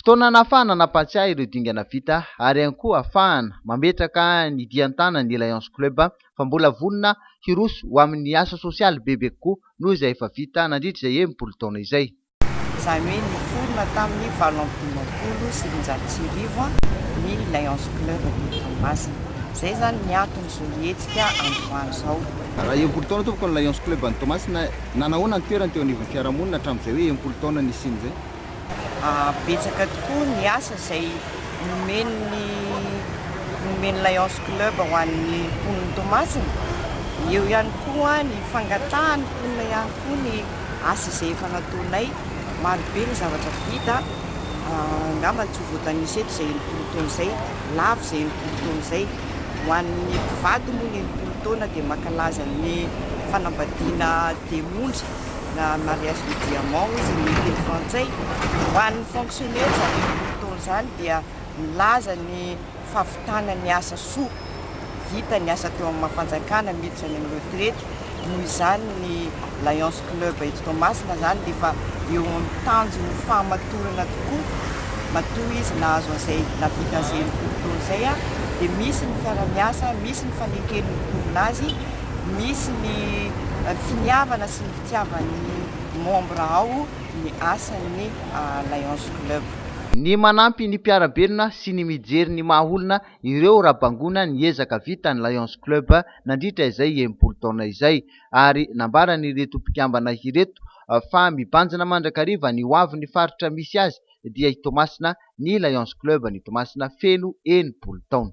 Fotoana anahafahana nampahatsiahy ireo dingana vita ary ihany koa ahafahana mametraka ny dihy an-tanan'ny Lions Club fa mbola vonona hiroso ho amin'ny asa sosialy bebe kokoa noho izay efa vita nandritra izay enimpolo taona izay. Izany hoe niforona tamin'ny valo amby dimampolo sy roanjato sy arivo ny Lions Club eto Toamasina. Izay izany ny anton'izao hetsika androany izao. Raha enimpolo taona tompoko ny Lions Club any Toamasina, nanahoana ny toerany teo anivon'ny fiarahamonina hatramin'izay hoe enimpolo taona nisiany izay? Betsaka tokoa ny asa izay nomen'ny nomen'ny Lions Club ho an'ny mponin'i Toamasina. Eo ihany koa ny fangatahan'ny mponina ihany koa ny asa izay efa nataonay. Marobe ny zavatra vita, angamba tsy ho voatanisa eto izay enimpolo taona izay, lavo izay enimpolo taona izay. Ho an'ny mpivady moa ny enimpolo taona dia mankalaza ny fanambadiana dia monja. na mariage de diamant hoy izy amin'ny teny frantsay. Ho an'ny fonctionnaires amin'izany fotoana izany dia milaza ny fahavitana ny asa soa, vita ny asa teo amin'ny maha fanjakana miditra any amin'ny retraite, noho izany ny Lions Club eto Toamasina izany dia efa eo amin'ny tanjon'ny fahamatorana tokoa, matoa izy nahazo an'izay nahavita an'izay enimpolo taona izay dia misy ny fiara-miasa, misy ny faneken'ny mponina azy. misy ny finiavana sy ny fitiavan'ny membres ao ny asan'ny Lions Club. Ny manampy ny mpiara-belona sy ny mijery ny maha olona ireo raha bangoina ny ezaka vitan'ny Lions Club nandritra izay enimpolo taona izay ary nambaran'ireto mpikambana ireto fa mibanjina mandrakariva ny hoavin'ny faritra misy azy dia i Toamasina ny Lions Club ny Toamasina feno enimpolo taona.